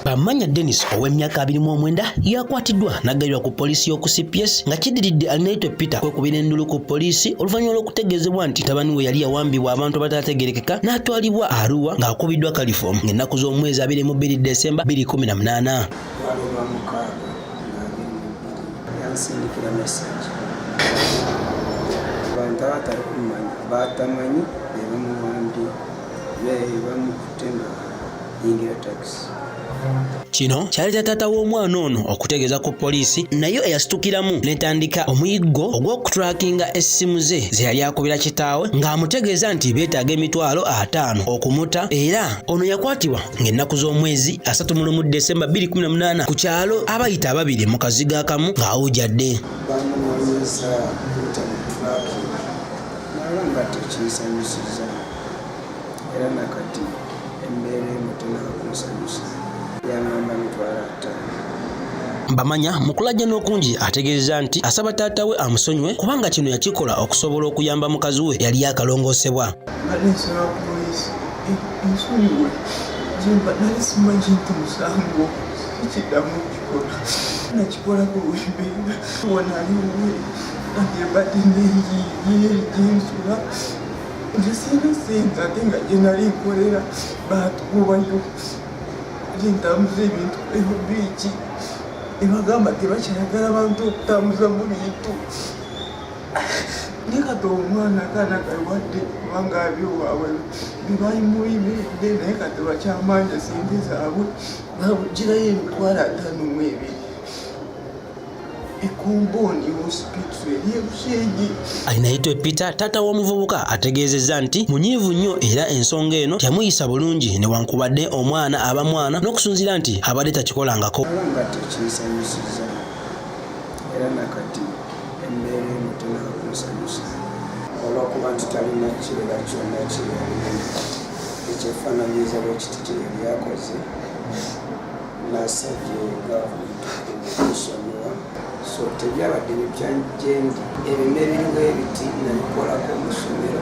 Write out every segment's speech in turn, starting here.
Bamanya Dennis ow'emyaka abiri mu omwenda yakwatiddwa n'aggalirwa ku poliisi y'oku CPS nga kidiridde Alinaitwe Peter kwekubira endulu ku poliisi oluvannyuma lw'okutegeezebwa nti tabani we yali yawambibwa abantu abataategerekeka n'atwalibwa Arua ng'akubiddwa kalifoomu ng'ennaku z'omwezi abiri mu bbiri Desemba bbiri kumi na munaana. yansindikira message abantu abatali kumanya batamanyi bebamuwandi bebamukutte nga yingira takisi kino kyaleeta taata w'omwana ono okutegeeza ku poliisi nayo eyasitukiramu netandika omuyiggo ogw'okutulakinga essimu ze ze yali akubira kitaawe ng'amutegeeza nti beetaaga emitwalo ataano okumuta era ono yakwatibwa ng'ennaku z'omwezi asatu mu lumu Desemba 2018 ku kyalo abayita ababiri mu kazigo akamu ng'awujjadde era nakati embeera emu tenakunsanyusa yangamba mitwala ttaano Bamanya mu kulajjana okungi ategeezezza nti asaba taata we amusonyiwe kubanga kino yakikola okusobola okuyamba mukazi we yali yakalongoosebwa. Mbadde nsaba poliisi ensonyiwe gyemba nali simanyi nti musango sikiddamu okukikola nakikola ku lwembeera wanaliwe agyembadde nenjiiye gyensula nze sirina sente ate nga gyenali nkolera baatugobayo gyentambuza ebintu ebyo biiki ebagamba tebakyayagala bantu okutambuzamu bintu naye kati omwana kana kawadde kubanga abyo waabwe bibalimuyimiride naye kati bakyamanja sente zaabwe babugirayo emitwalo ataano mu ebiri alinaitwe peter taata w'omuvubuka ategeezezza nti munyiivu nnyo era ensonga eno teyamuyisa bulungi newankubadde omwana aba mwana n'okusunzira nti abadde takikolangako era nakati emmeere emu tenakunsanyusa olwokuba nti talina kirera kyonna kyeyalina ekyefaananyiriza bwekiti kyeyali akoze nasabye gavumenti okusonyiwa so tebyabadde bipya gyendi ebimera ebiriwo ebiti nabikolako omusomero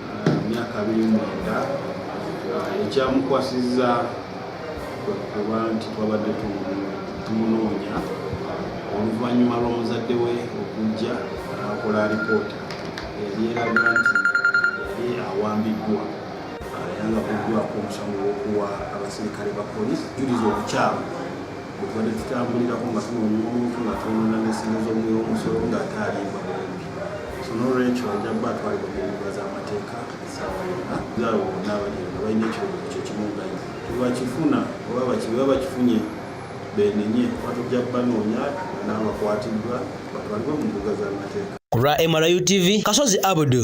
myaka abiri mwenda ekyamukwasizza okuba nti twabadde tumunoonya oluvannyuma lw'omuzadde we okujja akola alipoota yali eraga nti yali awambiddwa yanga kuddwako omusango gwokuwa abaserikale ba polisi juliza obukyamu tubadde tutambulirako nga tunoonya omuntu nga twonona n'essimu z'omuwi w'omusolo ng'ate alimba bulungi so n'olwekyo ajja kuba atwalibwa mu mbuga z'amateeka essaawa yonna zaawe bonna abaliyo nga balina ekirowoozo kyo kimu nga ye tebakifuna oba bakiba bakifunye benenye kuba tujja kubanoonya n'abakwatiddwa batwalibwe mu mbuga z'amateeka ku lwa mru tv kasozi abudu